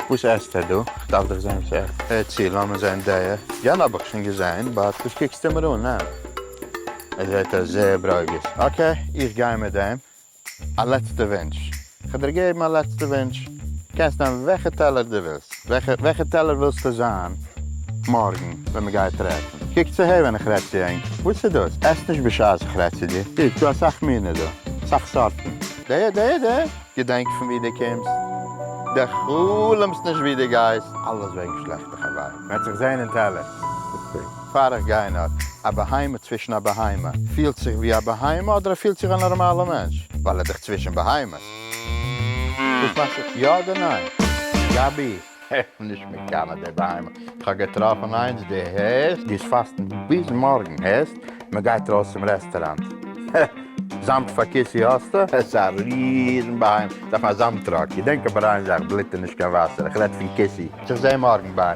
וואס עסט ער דא? כ'דארף דאך זעהן וואס ער הערט צו, לאמיר זעהן דעיע יענע האב איך שוין געזעהן באט וואס קוקסטו מיר אן? ניין? ער זעהט אויס זעהר ברוגז, אקעי איך גיי מיט דעם. א לעצטע ווינטש. כ'האב דיר געגעבן א לעצטע ווינטש. קענסט נעמען וועלכע טעלער דו ווילסט. וועלכע וועלכע טעלער ווילסטו זיין מארגן ווען מען גייט רעדן? קוק צו הער ווען איך רעד צו ענק. וואס איז דאס? עס נישט בשעת איך רעד צו דיר. קוק, ס'דא אסאך מינע דא. אסאך סארטן. דע דע דע דע. געדענק פון וואו דו קומסט. דע חלומ'סט נישט וואו דו גייסט. אלעס וועגן שלעכטע חברים. מ'עט זיך זעהן אין טעלער. פאר איך גיי אין ארט. א בהמה צווישן א בהמה פילט זיך ווי א בהמה אדער ער פילט זיך א נארמאלע מענטש ווייל ער דאך צווישן בהמות? דאס מיינט זיך יא אדער ניין? גבי, איך בין נישט מקנא די בהמה, איך האב געטראפן איינס די הערסט גייסט פאסטן ביז מארגן הערסט מען גייט ארויס צום רעסטעראנט הע זאמד פאר כיסי האסטו? עס איז א ריזן בהמה דארף א זאמד טראק געדענק אבער איין זאך בלוט איז נישט קיין וואסער איך רעד פון כיסי. איך זעה מארגן ביי.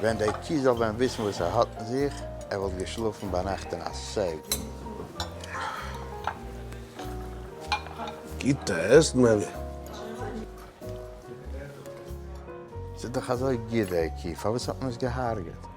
ווען דער קי זאל ווען וויסן וואס ער האט אין זיך, ער וואלט געשלאפן ביינאכט אין א סעף. גוט עסן אלי. ס'איז דאך אזוי גוט דער קי, פארוואס האט מען עס געהארגעט?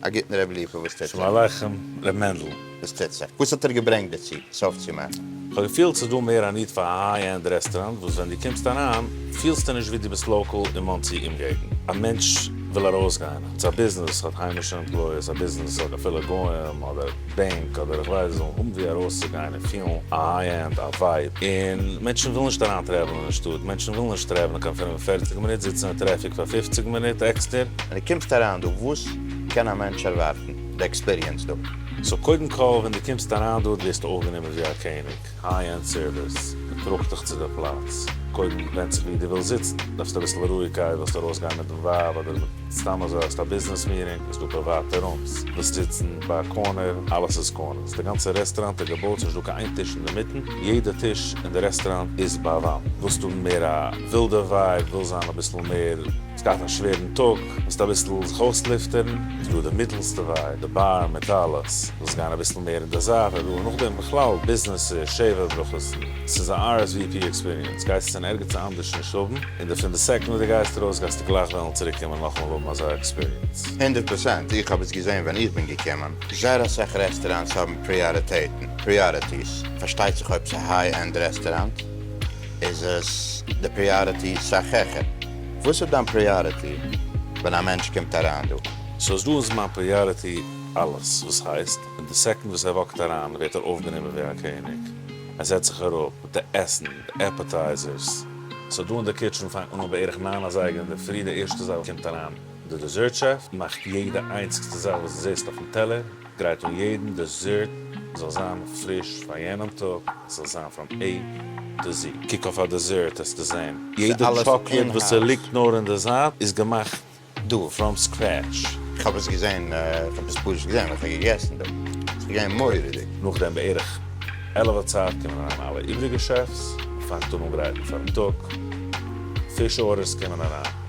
א גוטן רבי ליפא, וואס טוט זיך? שלום עליכם ר' מענדל. וואס טוט זיך? וואס האט ער געברענגט דערצו סוף צו מאכן? כ'האב געפילט ס'איז דא מער א ניד פאר א היי ענד רעסטעראנט וואס ווען דו קומסט אריין פילסטו נישט ווי דו ביסט לאקאל אין מאנסי אומגעגנט. א מענטש וויל ארויסגיין, אונז א ביזנעס האט היימישע עמפלויעס, א ביזנעס האט אפילו גוים אדער. בענק אדער איך ווייס זאלן האבן ווי ארויסצוגיין און פילן א היי ענד א ווייב און מענטשן ווילן נישט אריין טרעוולען אין שטאט מענטשן ווילן נישט טרעוולען קיין פֿינף און פֿערציק מינוט זיצן אין טרעפיק פאר פֿופֿציק מינוט עקסטער. ווען דו קומסט אריין דא וואס קען א מענטש ערווארטן די עקספיריענס דא? סאו קודם כל ווען דו קומסט אריין דא ווערסטו אויפגענומען ווי א קעניג. היי ענד סערוויס, מען טראגט דיך צו די פלאץ, קודם ווענד זיך ווי דו ווילסט זיצן, דארפסט אביסל רואיגקייט, ווילסט ארויסגיין מיט די ווייב אדער מיט סתם אזוי, האסט א ביזנעס מיטינג, איז דא פריוואטע רומס, ווילסט זיצן ביי א קארנער, אלעס איז קארנערס, די גאנצע רעסטוראנט איז געבויט ס'נישט דא קיין איין טיש אינדערמיטן, יעדע טיש אין די רעסטוראנט איז ביי א וואנט, ווילסט האבן מער א ווילדע ווייב, ווילסט זיין אביסל מער. ס'גייט א שווערן טאג, ווילסט אביסל זיך אויסלופטערן, איז דא די מיטעלסטע וויי, די באר מעטאלאס, ווילסט גיין אביסל מער אין די זייט, אדער נאכדעם בכלל ביזנעסער שבע ברכות'ן, ס'איז א RSVP עקספיריענס, גייסט עס אין ערגעץ אנדערש נישט האבן, און די פון די סעקאנד ווי די גייסט ארויס גייסטו גלייך וועלן צוריק קומען נאכאמאל האבן אזא עקספיריענס. הונדערט פראצענט, איך האב עס געזעהן ווען איך בין געקומען, זייער אסאך רעסטעראנטס האבן פריאריטעטן, Priorities, פארשטייט זיך אויב ס'איז א היי ענד רעסטעראנט איז עס די פריאריטי סאך העכער. וואס איז דיין פריאריטי ווען א מענטש קומט אריין דא? סאו דא איז מיין פריאריטי אלעס וואס הייסט, און די סעקאנד וואס ער וואקט אריין ווערט ער אויפגענומען ווי א קעניג, ער זעצט זיך אראפ מיט די עסן, די עפעטייזערס, סאו דא אין די קיטשען פאנגט מען אן בערך ניין אזייגער אינדערפרי, די ערשטע זאך וואס קומט אריין די דעזערט שעף, מאכט יעדע איינציגסטע זאך וואס די זעסט אויפן טעלער, גרייט אן יעדן דעזערט ס'זאל זיין פריש פאר יענעם טאג, ס'זאל זיין פראם עי טו זי, קוק אויף א דעזערט העסטו זען יעדע טשאקלעד וואס ס'ליגט נאר אין די זייט איז געמאכט דא פראם סקרעטש. כ'האב עס געזען, כ'האב עס פשוט געזען, כ'האב געגעסן דא, ס'איז געווען מורא'דיג. נאכדעם בערך עלעווע צייט קומען אריין אלע איבריגע שעפס, מ'פאנגט אן אנגרייטן פארן טאג, פיש ארדערס קומען אריין.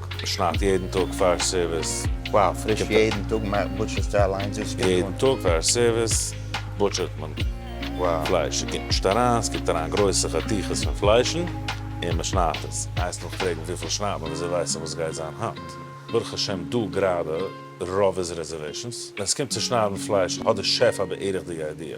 שניידט יעדן טאג פאר סערוויס. וואו פריש יעדן טאג מאכט בוטשערסטו אליינס דאס גוט אן. יעדן טאג פאר סערוויס בוטשערט מען פלייש, ס'קומט נישט אריין, ס'קומט אריין גרויסע חתיכות פון פליישן און מ'שניידט עס. הייסט נאך פרעגן וויפיל שניידט מען וויאזוי ווייס איך וואס גייט זיין היינט? ברוך השם דא גראדע רוב איז רעזערוועישאנס, ווען ס'קומט צו שניידן פלייש האט די שעף א בערך די איידיע.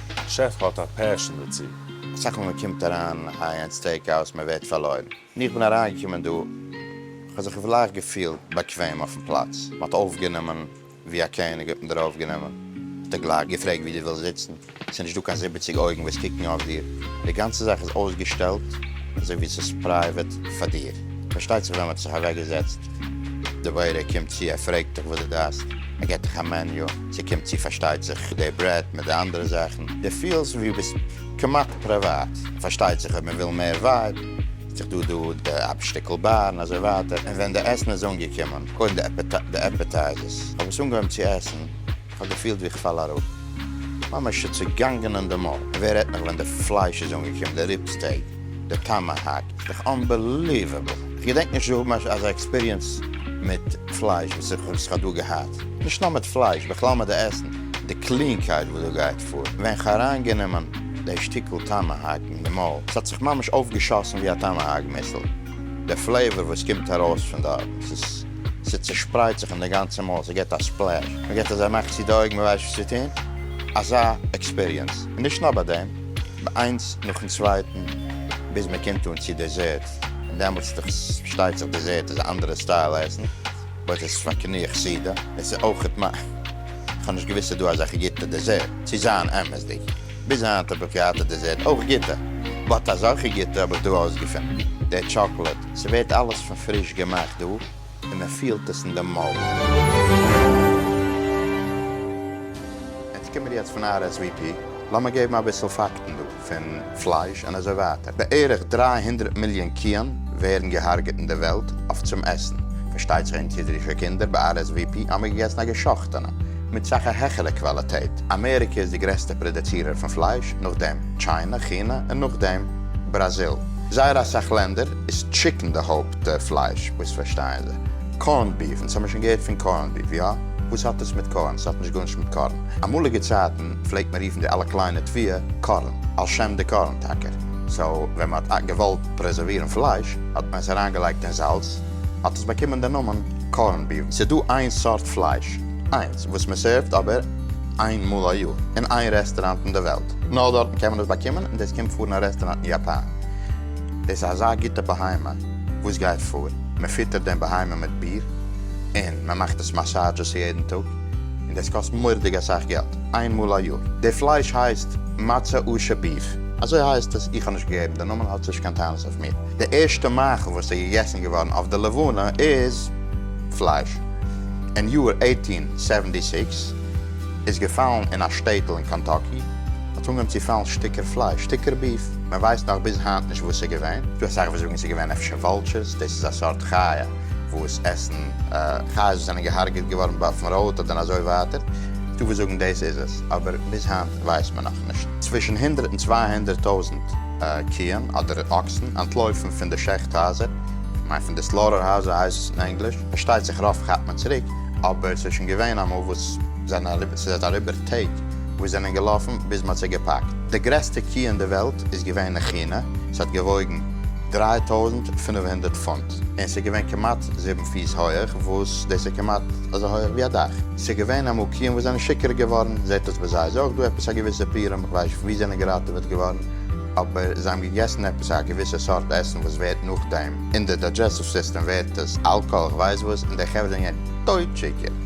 שעף האט א פעשען דערצו. אסאך מאל מען קומט אריין היי ענד סטעיק האוז מען ווערט פארלוירן. ווען איך בין אריינגעקומען דא כ'האב זיך גלייך געפילט באקוועם אויפן פלאץ, מען האט אויפגענומען ווי א קעניג, האט מען דיר אויפגענומען, מען האט גלייך געפרעגט ווי דו ווילסט זיצן, ס'איז נישט דא קיין זיבעציג אויגן וואס קוקן אויף דיר, די גאנצע זאך איז אויסגעשטעלט אזוי ווי ס'איז פרייוועט פאר דיר, פארשטייט זיך ווען מען האט זיך אוועקגעזעצט די וועיטער קומט צו ער פרעגט דיך וואס דו דארפסט, ער געט דיך א מעניו. ס'קומט צו פארשטייט זיך די ברעט מיט די אנדערע זאכן, די פילסט ווי ביסט כמעט פריוואט, פארשטייט זיך אויב מ'וויל מער ווייב, האט זיך דא דא די אפ שטיקל באר און אזוי ווייטער, און ווען די עסן איז אנגעקומען, קודם די עפעטייזערס, כ'האב עס אנגעהויבן צו עסן, כ'האב געפילט ווי כ'פאל אראפ, ממש צעגאנגען אין די מויל, און ווער רעדט נאך ווען די פלייש איז אנגעקומען, די ריב סטעיק. די טאמאהאק איז דאך אנבעליוועבל, איך געדענק נישט צו האבן אזא עקספיריענס מיט פלייש וואס איך האב דא געהאט, נישט נאר מיט פלייש, בכלל מיט די עסן, די קלינקייט וואס דא גייט פאר, ווען איך אריינגענומען די שטיקל טאמאהאק אין די מויל, ס'האט זיך ממש אויפגעשאסן ווי א טאמאהאק מיסל, די פלעיוואר וואס קומט ארויס פון דארט, ס'צושפרייט זיך אין די גאנצע מויל, ס'געט א ספלעש, מ'געט אזא מאך צו די אויגן, מ'ווייסט נישט וואס צו טון, אזא עקספיריענס, און נישט נאר ביי דעם. איינס נאכן צווייטן ביז מען קומט אן צו דעזערט, און דעמאלטס איז דאך פארשטייט זיך דעזערט איז א אנדערע סטייל עסן, באט עס איז פאר קנאה כסדר, עס איז אויכעט מ. כ'האב נישט געוואוסט ס'איז דא אזעלכע גוטע דעזערט, צו זיין אמת'דיג, ביז היינט האב איך געהאט א דעזערט אויך גוטע, באט אזעלכע גוטע האב איך דא אויסגעפונען, דער טשאקלעד, ס'ווערט אלעס פון פריש געמאכט דא, און ער פילט עס אין די מויל. ענק קומען יעצט פון RSVP, לאמיר געבן אביסל פאקטן דא, פון פלייש און אזוי ווייטער, בערך דרײַ הונדרעט מיליאן קיען ווערן געהארגעט אין די וועלט אויף צום עסן, פארשטייט זיך אונז אידישע קינדער ביי RSVP האמיר געגעסן א געשאכטענע, מיט סאך א העכערע קוואליטעט, אמעריקע איז די גרעסטע פראדעצירער פון פלייש, נאכדעם טשיינע, כינע, און נאכדעם בראזיל, זייער אסאך לענדער איז טשיקן די הויפט. די פלייש מוזט פארשטיין די קארנד ביף, אונז האמיר שוין געהערט פון קארנד ביף, יא? וואס האט דאס מיט קארן? ס'האט נישט גארנישט מיט קארן. אמאליגע צייטן פלעגט מען רופן די אלע קליינע תביעה קארן, על שם די קארן טאקע. סאו ווען מען האט געוואלט פרעזערווירן פלייש האט מען עס אריינגעלייגט אין זאלץ, האט עס באקומען די נאמען קארנד ביף. ס'איז דא איין סארט פלייש, איינס וואס מען סערווט אבער איין מאל א יאר, אין איין רעסטוראנט אין די וועלט, נאר דארטן קען מען עס באקומען, און דאס קומט פאר אין א רעסטוראנט אין יאפאן. דאס איז אזא גוטע בהמה, וואס גייט פאר? מען פיטערט דעם בהמה מיט ביר, און מען מאכט עס מאסאדזשעס יעדן טאג, און דאס קאסט מורדיג אסאך געלט, איין מאל א יאר. די פלייש הייסט מצה אשה ביף. אזוי הייסט עס, איך האב נישט געגעבן די נאמען, האטס נישט קיין טענות אויף מיר. די ערשטע מאכל וואס איז געגעסן געווארן אויף די לבנה איז פלייש. אין יאר עיטין סעווענטי סיקס איז געפאלן אין א שטעטל אין קענטאקי, האט אנגעהויבן צו פאלן שטיקער פלייש, שטיקער ביף. מען ווייסט נאך ביז היינט נישט וואס ס'איז געווען, ס'דא אסאך וואס זאגן ס'איז געווען אפשר וואלטשערס, דאס איז א סארט חיה וואס עסן חיות וואס זענען געהארגעט געווארן באופן ראוט אדער אזוי ווייטער, ס'דא וואס זאגן דאס איז עס, אבער ביז היינט ווייסט מען נאך נישט. צווישן הונדרעט און צוויי הונדרעט טויזנט קיען אדער אקסן אנטלויפן פון די שעכט הייזער, איך מיין פון די סלאטער הייזער הייסט עס אין ענגליש, פארשטייט זיך רוב כאפט מען צוריק, אבער ס'איז שוין געווען אמאל וואס ס'זענען אריבער, ס'איז אריבער. טעג וואס זענען געלאפן ביז מ'האט זיי געפאקט. די גרעסטע קי אין די וועלט איז געווען אין כינע, ס'האט געוואויגן דרײַ טויזנט פֿינף הונדערט פונט, און ס'איז געווען כמעט זיבן פיס הויעך, וואס דאס איז כמעט אזוי הויעך ווי א דאך. ס'איז געווען אמאל קיען וואס זענען שיכור געווארן, זעט אויס ביי זיי איז אויך דא עפעס א געוויסע פירעם, כ'ווייס נישט וואו זענען געראטעוועט געווארן, אבער זיי האבן געגעסן עפעס א געוויסע סארט עסן וואס ווערט נאכדעם אין די דיידזשעסטיוו סיסטעם ווערט עס אלקאהאל כ'ווייס וואס, און די חברה זענען געווען טויט שיכור.